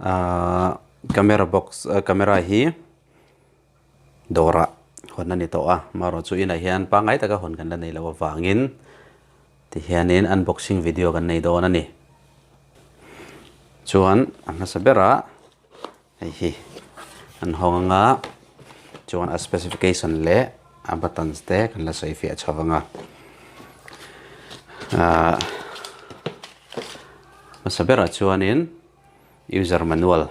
Ahh camera box ah camera hi dawrah hawn a ni tawh a, marawh chu inah hian pangngai taka hawn kan la nei loh avangin tihianin unboxing video kan nei dawn a ni. Chuan a hmasa berah hei hi an hawng ang a, chuan a specification leh a buttons te kan la sawi fiah chho vang a. Ahh hmasa berah chuanin. User manual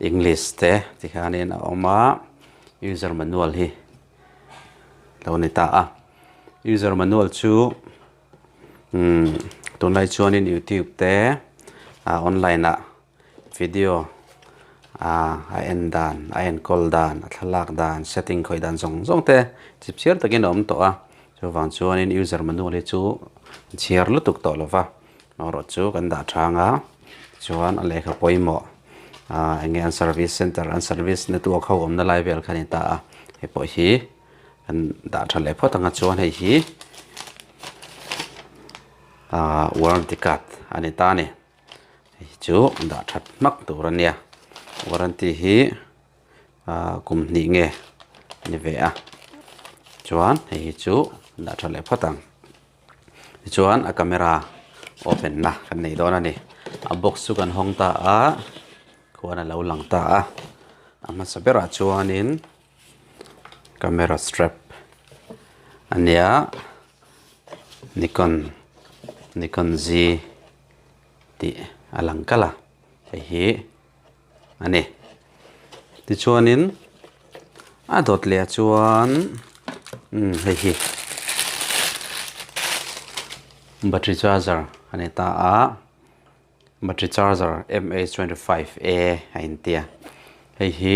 English te ti hianin a awm a, user manual hi lo ni ta a. User manual chu umm tunlai chuanin youtube te ah online ah video ah a en dan, a enkawl dan, a thlalak dan, setting khawih dan zawng zawng te chhipchhiar takin a awm tawh a. Chuvang chuanin user manual hi chu chhiar lutuk tawh lo va, boruak chu kan dah chhang a, tichuan a lehkha pawimawh ah enge an service centre an service na tu kho awmna lai vel kha a ni ta a, hei pawh hi kan dah tha leh phawt ang a, chuan hei hi ah warranty card a ni ta a ni, hei chu dah that hmak tur a nia, warranty hi. Ahh kum hnih nge ni ve a chuan hei hi chu dah tha leh phawt ang tichuan a camera open na kan nei dawn a ni a box chu kan hawng ta a khuan a lo lang ta a a hmasa berah chuanin camera strap a nia nikon nikon Z tih a lang kalh a hei hi-- a ni. Tichuanin a dawt leh chuan umm hei hi battery charger a ni ta a, battery charger MA twenty five a a intia hei hi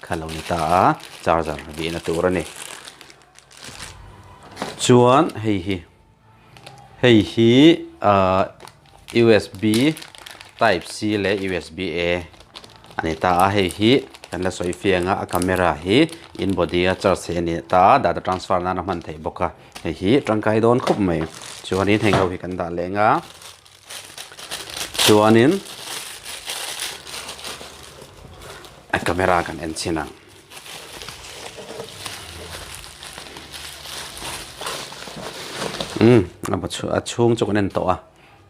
Kha lo ni ta a, charger bih na tur a ni. Chuan hei hi, hei hi ahh usb type C leh usb A a ni ta a, hei hi kan la sawi fiang a, a camera hi in body a charge theih a ni ta a, data transfer nan a hman thei bawk a, hei hi tangkai dawn khawp mai. Chuan in heng ho hi kan dah leng a. chuanin a camera kan en chhin ang umm a chhung chu kan en tawh a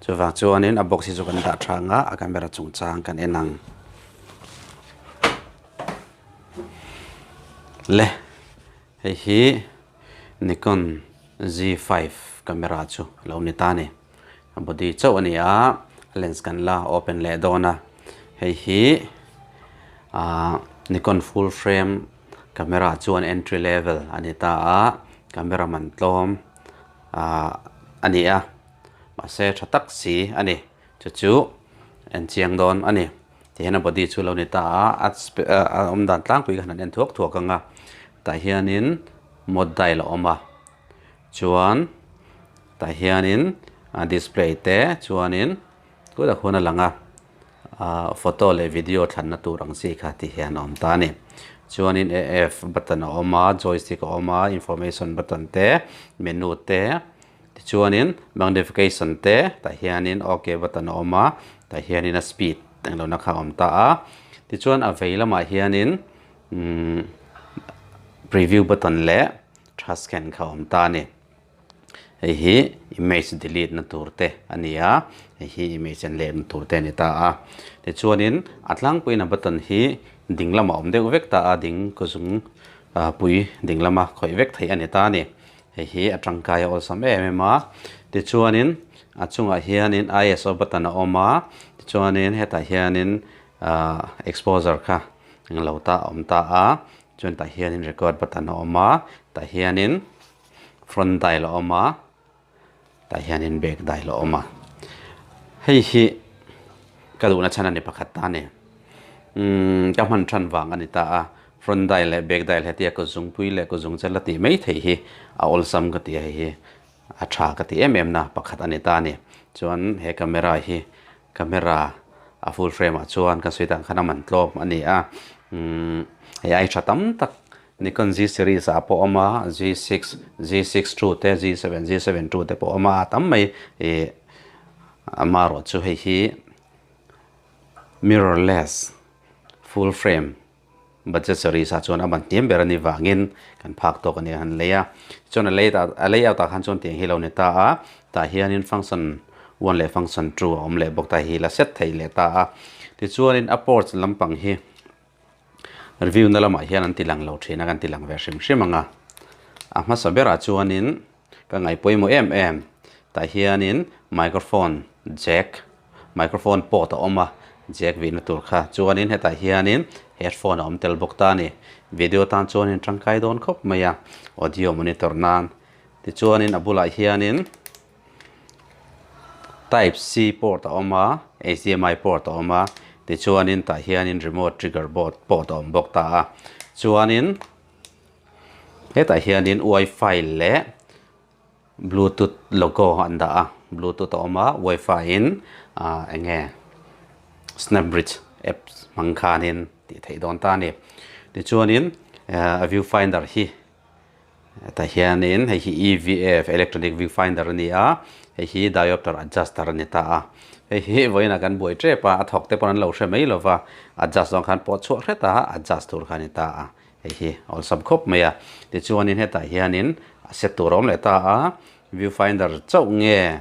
chuvang chuanin a box hi chu kan dah tha ang a a camera chungchang kan en ang le. Hei hi Nikon Z five camera chu lo ni ta ni. A body chauh a ni a, lens kan la open leh dawn a. Hei hi aah Nikon full frame camera chuan entry level a ni ta a, camera man tlawm aah a ni a, mahse tha tak si a ni. Chu chu en chiang dawn a ni. tih hian a body chu lo ni ta a a awm dan tlangpui khan an en thuak thuak ang a tah hianin mawtdail a awm a chuan tah hianin a display te chuanin tut a khun a lang a ah photo leh video thlanna tur ang chi kha tih hian a awm ta a ni chuanin a f button a awm a joystick a awm a information button te menu te-- Tichuanin magnification te tah hianin ok button a awm a, tah hianin a speed eng lohna kha a awm ta a. Tichuan a vei lamah hianin umm preview button leh tha scan kha a awm ta a ni. Hei hi image delete na tur te a ni a, hei hi image an leh na tur te a ni ta a. Tichuanin a tlangpuiin a button hi ding lamah a awm deuh vek ta a, ding kuzum pui ding lama khawih vek theih a ni ta a ni. Hei hi a tangkai a awlsam em em a, tichuanin a chungah hianin ISO button a awm a, tichuanin hetah hianin ahh exposure kha eng lo ta a awm ta a, chuan tah hianin record button a awm a, tah hianin front dial a awm a. Tah hianin bag dai la awm a. Hei hi ka duhna chhan a ni pakhat ta a ni. Umm ka hman than vang a ni ta a, front dai leh bag dai leh hetia kut zungpui leh kut zungchel a tih mai thei hi a awlsam ka ti a, hei hi a tha ka ti em em na pakhat a ni ta a ni. Chuan he camera hi, camera a full frame ah chuan ka sawi dan khan a man tlawm a ni a. Umm hei aitha tam tak Nikon Z series ah pawh a awm a, Z six, Z six two te, Z seven, Z seven two te pawh a awm a, a tam mai ih a marawh chu hei hi mirrorless full frame budget series ah chuan a ban hniam ber a nih vangin kan phak tawk a nih a han lei a, chuan a lei tah a layout ah khan chuan tiang hi lo ni ta a, tah hianin function one leh function two a awm leh bawk ta hi la set theih leh ta a, tichuanin a ports lampang hi. Review na lamah hian an ti lang lo thin a, kan ti lang ve hrim hrim ang a. A hmasa berah chuanin ka ngaihpawimawh em em. Tah hianin microphone jack, microphone port a awm a, jack vihna tur kha. Chuanin hetah hianin headphone a awm tel bawk ta a ni. Video tan chuanin tangkai dawn khawp mai a, audio monitor nan. Tichuanin a bulah hianin. Type C port a awm a HDMI port a awm a tichuanin tah hianin remote trigger board port a awm bawk ta a chuanin hetah hianin wifi leh bluetooth logo an dah a bluetooth a awm a wifi in ah eng nge snap bridge app hmang khanin tih theih dawn ta a ni tichuanin view finder hi-- tah hianin hei hi evf electronic view finder a ni a hei hi diopter adjuster a ni ta a hei hi vawiin ah kan buai tep a a thawk te pawh an lo hre mai lo va adjust zawng khan pawh chhuah hret a adjust tur kha a ni ta a hei hi awlsam khawp mai a tichuanin hetah hianin a set tur a awm leh ta a view finder chauh nge.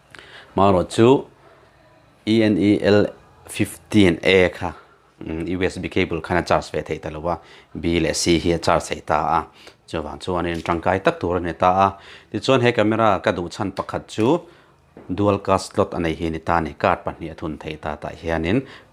Hmanraw chu ENEL15A kha USB cable khan a charge ve thei ta lo a, B leh C hi a charge thei ta a, chuvang chuanin tangkai tak tur a ni ta a, tichuan he camera ka duh chhan pakhat chu dual card slot a nei hi a ni ta a ni, card pahnih a thun thei ta tah hianin,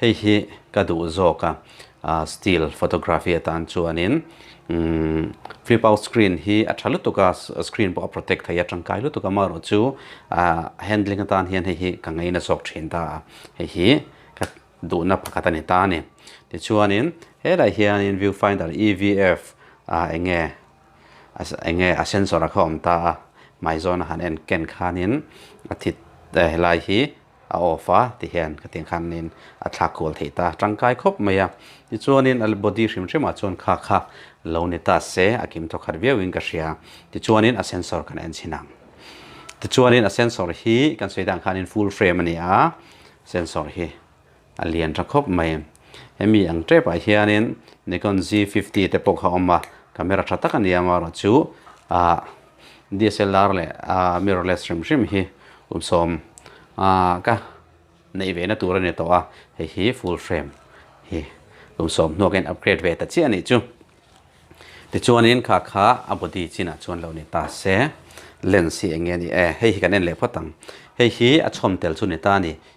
Hei hi ka duh zawk a, still photography atan chuanin flip out screen hi a tha lutuk a, screen pawh a protect thei a, tangkai lutuk a, amaherawh chu handling atan hian hei hi ka ngei nasawk thin ta a, hei hi ka duhna pakhat a ni ta a ni. Tichuanin helaiah hianin view finder EVF enge enge a sensor a kha awm ta a, hmai zawn a han enken khanin a thit helai hi. a off a ti hian ka tiang khan in a thlak kual thei ta tangkai khawp mai a tichuan in a body hrim hrim ah chuan kha kha lo ni ta se a kim tawk khat viau in ka hria tichuan in a sensor kan en chhin ang tichuan in a sensor hi kan sawi dan khan in full frame a ni a sensor hi. A lian tha khawp mai. Hemi ang tepah hianin Nikon Z fifty te pawh kha awm a, camera tha tak a ni a amarawh chu ah DSLR leh ah mirrorless hrim hrim hi sawm ah ka neih ve na tur a ni tawh a, hei hi full frame hi kum sawm hnuah ka in upgrade ve ta chiah a nih chu. Tichuanin khakha a body chinah chuan lo ni ta se lens hi eng nge ni e, hei hi kan en leh phawt ang, hei hi a chhawm tel chu ni ta a ni,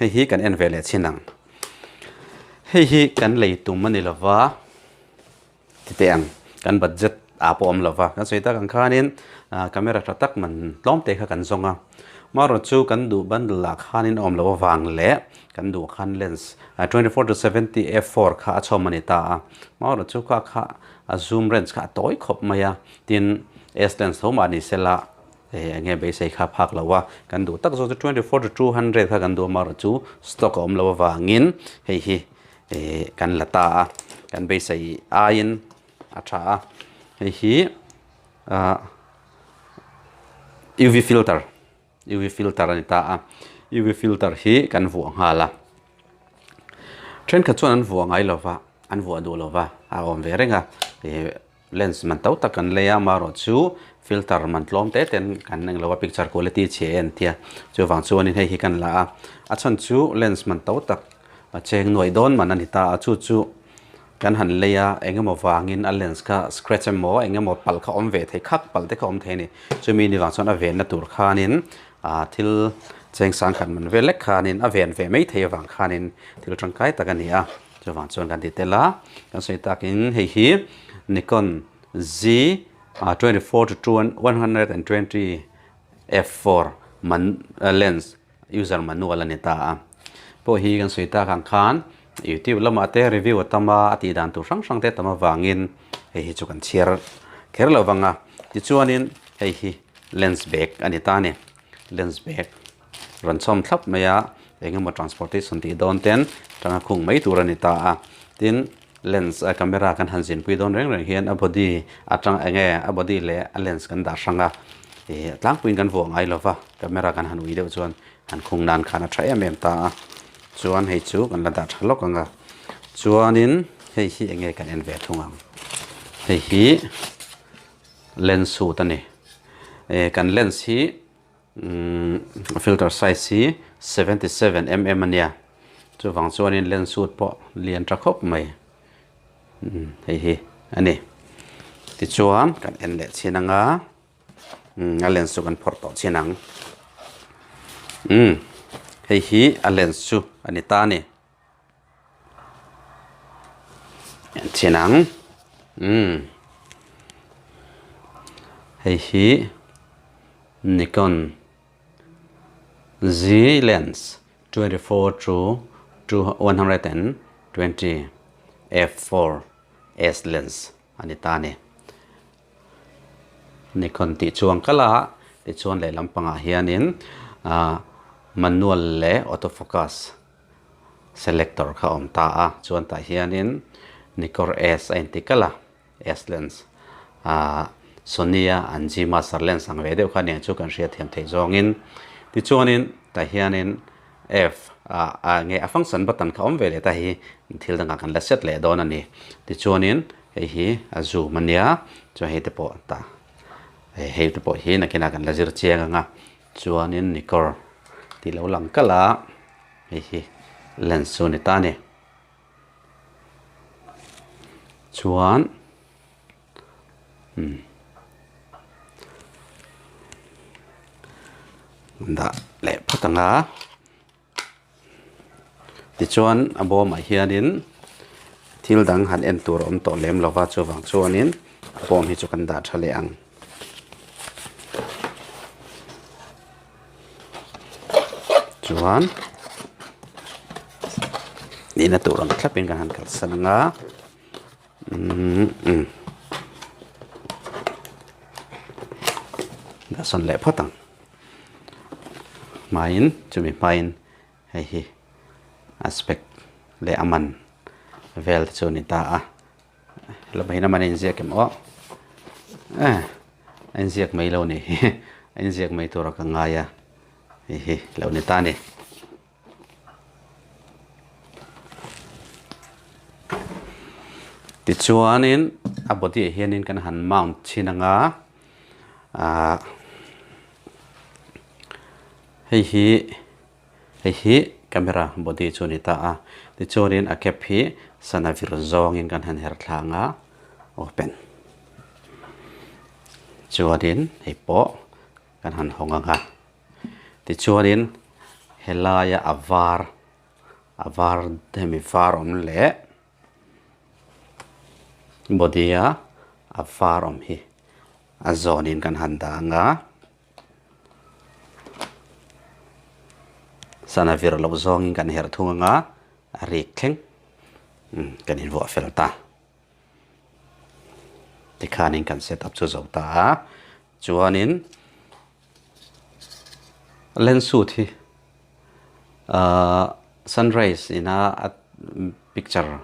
hei hi kan en ve leh chin ang hei hi kan lei tum a ni lo va ti teh ang kan budget ah pawh awm lo va kan sawi tak ang khanin ah, camera tha tak man tlawm te kha kan zawng a marawt chu kan duh bundle lah khanin awm lo avang leh kan duh khan lens ah, 24 to 70 f 4 kha a chhawm a ni ta a marawt chu kha kha a zoom range kha a tawi khawp mai a tin s lens tho mah ni se la He enge beisei kha phak lo a, kan duh tak zawk chu twenty four to two hundred kha kan duh a mar chu stock a awm lo avangin hei hi kan la ta a, kan beisei aiin a tha a, hei hi ah UV filter UV filter a ni ta a, UV filter hi kan vuah nghal a, thenkhat chuan an vuah ngai lova an vuah duh lova a awm ve reng a. Lens man to tak kan lei a, amaherawh chu filter man tlawm te ten kan eng lo a, picture quality chhe en tia. Chuvang chuanin hei hi kan la a, a chhan chu lens man to tak a cheng nuai dawn man a ni ta a, chu chu kan han lei a, eng emaw vangin a lens kha scratch emaw eng emaw pal kha awm ve thei khak, pal te kha awm thei a ni. Chumi ni vang chuan a venna tur khanin ah thil cheng sangkhat man velek khanin a ven ve mai thei avang khanin thil tangkai tak a ni a. Chuvang chuan kan ti tel a, kan sawi tak in hei hi Nikon Z ah twenty four to two one hundred and twenty f four man lens user manual a ni ta a. Pawh hi kan sawi tak ang khan youtube lamah te review a tam a, a tih dan tur hrang hrang te tam avangin hei hi chu kan chhiar kher lo vang a. Tichuanin hei hi lens bag a ni ta a ni, lens bag. rawn chhawm thlap mai a, eng emaw transportation tih dawn ten tanga khung mai tur a ni ta a, tin lens a camera kan han zinpui dawn reng reng hian a body atang eng nge a body leh a lens kan dah hrang a, ih tlangpuiin kan vuah ngai lova camera kan han ui deuh chuan han khung nan khan a tha em em ta a, chuan hei chu kan la dah tha lawk ang a, chuanin hei hi eng nge kan en ve thung ang, hei hi lens suit a ni, eh kan lens hi. Umm filter size hi seventy seven mm a nia chuvang chuanin lens chhut pawh lian ta khawp mai umm hei hi a ni tichuan kan en leh chhin anga umm a lens chu kan phawrh tawh chhin ang umm hei hi a lens chu a ni ta a ni. Chian ang umm hei hi Nikon Z lens twenty four to one hundred and twenty f four S lens a ni ta ni Nikon tih chuang kal a tichuan lehlam pangah hianin ahh manual leh auto focus-- Selector kha awm ta a, chuan tah hianin Nikkor S a inti kalh a, S lens ah Sony a an G master lens ang ve deuh kha nia chu kan hria thiam theih zawngin tichuanin tah hianin F a nge a function button kha awm ve leh ta hi thil dangah kan la set leh dawn a ni tichuanin hei hi a zoom a nia chuan hei te pawh tah hei te pawh hi nakinah kan la zir chiang ang a. Chuanin ni kawr tih lo lang kal a, hei hi lens chu a ni ta a ni. Chuan umm dah leh phat ang a. Tichuan a bawmah hianin thil dang han en tur a awm tawh lem lova chuvang chuanin a bawm hi chu kan dah tha leh ang. Chuan nihna tur ang thlapin kan han kalsan anga. Dasawn leh phawt ang. Hmaiin chumi hmaiin hei hi aspect leh a man vel te chu a ni ta a. Hla pawhin a man a inziak em awh. Aa a inziak mai lo ni hi. A inziak mai tur a ka ngai a hei hi lo ni ta a ni. Tichuanin a body ah hianin kan han mount chhin ang a ah hei hi hei hi camera body chu a ni ta a tichuanin a cap hi sana vir zawngin kan han her thla ang a open chuanin hei pawh kan han hawng ang a. Tichuanin he laia a var, a var hemi var awm leh body a a var awm hi a zawnin kan han dang a. Sana vir loh zawngin kan herh thung anga a rik thleng umm kan invuah fel ta. Tikhanin kan set up chu zo ta a. Chuanin lens suit hi sun rays ina picture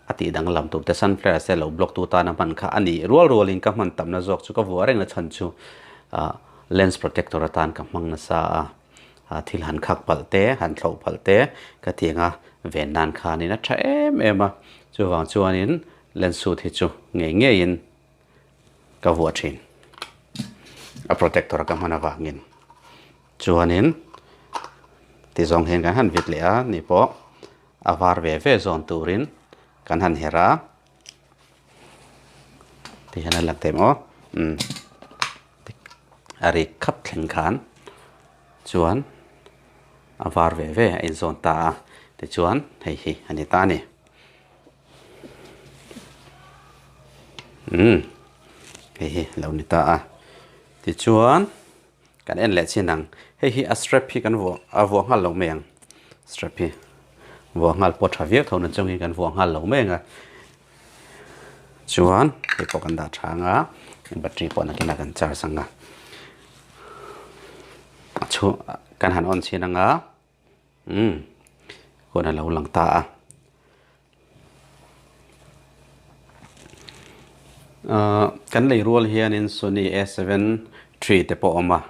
a tih dang lam tûrte sun flares te lo block tu tana hman kha a nih rual rualin ka hman tamna zawk chu ka vuah reng la chhan chu lens protector atan ka hmang nasa a, thil han khak palh te han thlauh palh te ka ti anga ven nan khanin a tha em em a chuvang chuanin lens suit hi chu ngei ngeiin. ka vuah thin a protector ka hman avangin chuanin tizawng hian kan han vit leh a ni pawh a var ve ve zawn turin kan han herh a tih hian a lang thei maw umm a rik khap thleng khan chuan a var ve ve a inzawn ta a tichuan hei hi a ni ta a ni. umm hei hi lo ni ta a tichuan kan en leh chin ang hei hi a strap hi kan vuah a vuah nghal lo mai ang strap hi vuah nghal pawh tha viau tho na chungin kan vuah nghal lo mai ang a chuan kei pawh kan dah tha ang a battery pawh nakin a kan charge ang a a chhung kan han on chhin ang a. Umm. Huan a lo lang ta a. Ahh, kan lei rual hianin Sony a seven three te pawh a awm a,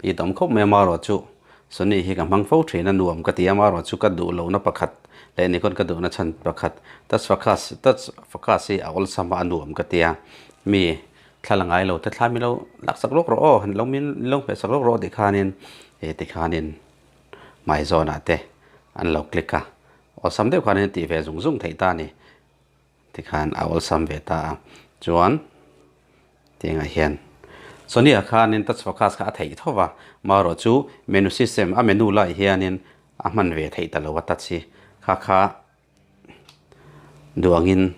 i dawm khawp mai a mah erawh chu Sony hi ka hmang fo thin a, nuam ka ti a, mah erawh chu ka duh lohna pakhat leh Nikon ka duhna chhan pakhat touch focus hi a awlsam a, a nuam ka ti a, mi. Thla la ngai lo, thla thlai milo laksak lawk rawh aw, ni lo min lo hmeh sak lawk rawh tih khanin he tikhanin hmai zawnah te an lo click a, awlsam deuh khanin tih ve zung zung theih ta ni tikhan a awlsam ve ta a, chuan tiangah hian Sonia khanin touch focus kha a theih tho va, marawh chu menu system a menu laiah hianin a hman ve theih ta lo a touch hi, kha kha. Duangin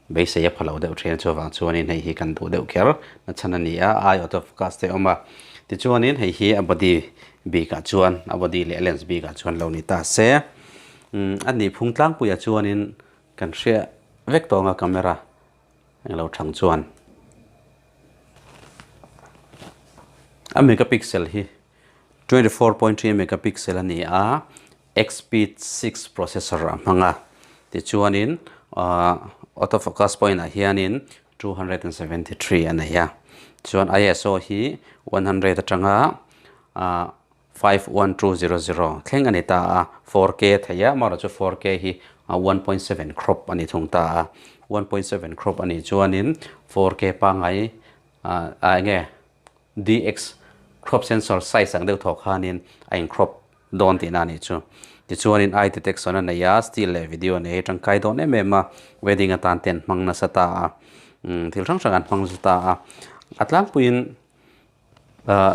beisei a pha lo deuh ṭhian chu avang chuanin hei hi kan duh deuh ker nachhan a ni a, ai out of focus te a awm a. Tichuanin hei hi a body bikah chuan a body leh a lens bikah chuan lo ni ta se. A ni phung tlangpuiah chuanin kan hriat vek tawng a camera eng lo ṭhang chuan. A megapixel hi twenty four point three megapixel a ni a, Expeed six processor a hmang a, tichuanin auto focus point ah hianin two hundred and seventy three a nei a, chuan ISO hi one hundred atanga five one two zero zero thleng a ni ta a, four K thei a, amaherawhchu chu four K hi one point seven crop a ni thung ta a, one point seven crop a nih chuanin four K pangngai enge DX crop sensor size ang deuh thawk khanin a in crop dawn tihna a nih chu. Tichuanin eye detection a nei a, still leh video nei hi tangkai dawn em em a, wedding atan te an hmang nasa ta a, thil hrang hrang an hmang nasa ta a. A tlangpuiin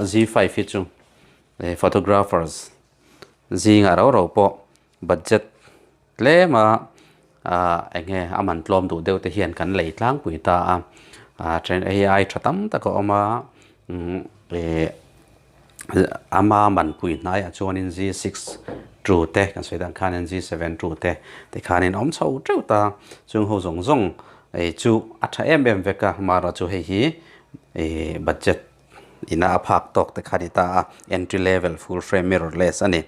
Z five hi chu photographers zingah ro ro pawh budget. Tlema enge a man tlawm duh deuh te hian kan lei tlangpui ta a, train ai tha tam tak a awm a, ama manpui hnaiah chuanin g six two te kan sawi dan khan g seven two te tikhanin a awm chho teuh ta, chung ho zawng zawng chu a tha em em vek a, mahra chu hei hi budget-- ina a phak tawk te kha a ni ta a, entry level full frame mirrorless a ni.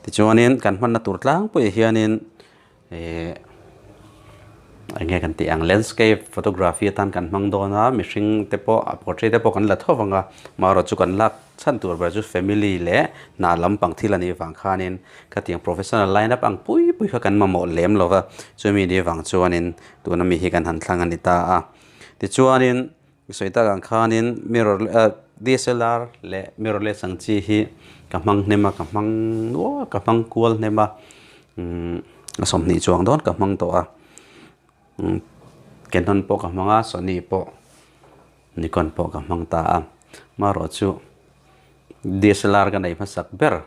Tichuanin kan hmanna tur tlangpuiah hianin ihh eng nge kan tih ang landscape photography atan kan hmang dawn a, mihring te pawh a portrait te pawh kan la thawk ang a, marawh chu kan lak chhan tur ber chu family leh hna lampang thil a nih vang khanin ka tiang professional line up ang pui pui kha kan mamawh lem lo va, chumi ni vang chuanin tuna mi hi kan han thlang a ni ta a. Tichuanin Sawi tak ang khanin mirror DSLR leh mirrorless ang chi hi ka hmang hnem a, ka hmang nual, ka hmang kual hnem a, a sawmhnih chuang dawn ka hmang tawh a. Canon pawh ka hmang a, Sony pawh, Nikon pawh ka hmang ta a. Marawh chu DSLR ka nei hmasak ber.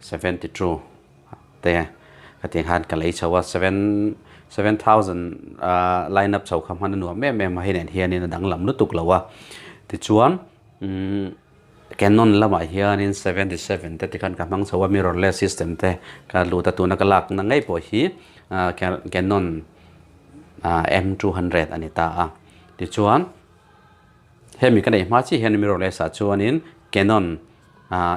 Seventy two te ka ti khan ka lei chho a seven seven thousand line up chho kha hman a nuam em em a hi nen hian in a danglam lutuk lo a tichuan Canon lamah hian in seventy seven te tikhan ka hmang chho a mirrorless system te ka hlut a tuna ka lak na ngei pawh hi Canon M two hundred a ni ta a tichuan Hemi ka nei hma chiah hian mirrorless ah chuanin Canon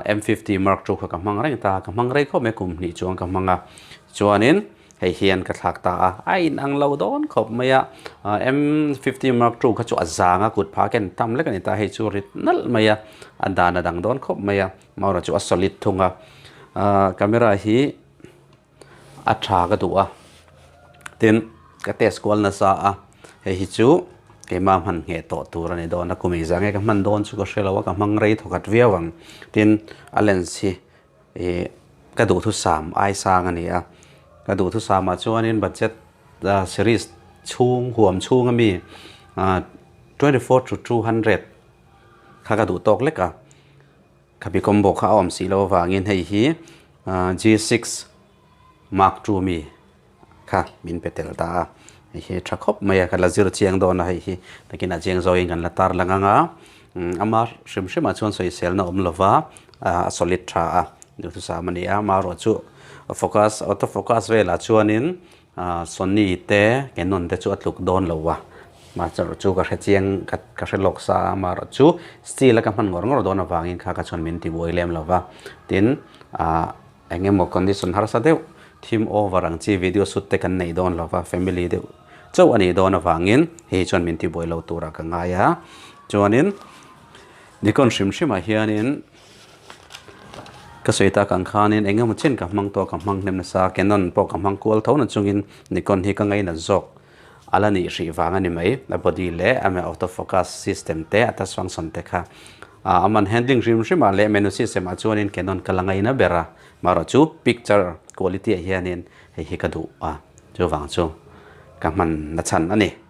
M fifty mark two kha ka hmang reng ta, ka hmang rei khawp mai kum hnih chuan ka hmang a, chuanin hei hian ka thlak ta a, a in ang lo dawn khawp mai a, M fifty mark two kha chu a zang a, kut pha ka en tam lek a ni ta, hei chu rit nalh mai a, a dan a dang dawn khawp mai a, hmaurachu a solid thung a, camera hi. A tha ka duh a, tin ka test kual nasa a, hei hi chu keimah hman ngheh tawh tur a ni dawn a, kumei zah nge ka hman dawn chu ka hre lo a, ka hmang rei thaw khat viau ang, tin a lens hi ih ka duhthusam ai sang a ni a, ka duhthusam ah chuan in budget series chhung huam chhung ami twenty four to two hundred kha ka duh tawk lek a. Khabi combo kha a awm si lo avangin hei hi G six mark two mi kha min pe tel ta a, hei hi tha khawp mai a, ka la zir chiang dawn a hei hi takin a chiang zawngin kan la tarlang ang a, ama hrim hrim ah chuan sawiselna awm lo va a solid tha a, duhthusam a ni a, amaherawhchu focus auto focus velah chuanin Sonny te Canon te chu a tluk dawn lo a, mah chaw chu ka hre chiang ka hre lawk sa a, maherawh chu Steele a ka hman ngawr ngawr dawn avangin kha ka chuan min ti buai lem lo va, tin eng emaw condition harsa deuh theme over ang chi video shoot te kan nei dawn lo va, family deuh chauh a nih dawn avangin hei hi chuan min ti buai lo turah ka ngai a, chuanin Nikon hrim hrimah hianin. Ka sawi tak ang khanin eng emaw chin ka hmang tawh ka hmang hnem nasa, Canon pawh ka hmang kual tho na chungin Nikon hi ka ngei nat zawk. A la nih hrih vang a ni mai, a body leh a auto focus system te a tasvangsawn te kha. A a man handling hrim hrim ah leh menu system ah chuanin Canon ka la ngei na ber a, marawh chu picture quality ah hianin hei hi ka duh a, chuvang chu ka hman nachhan a ni.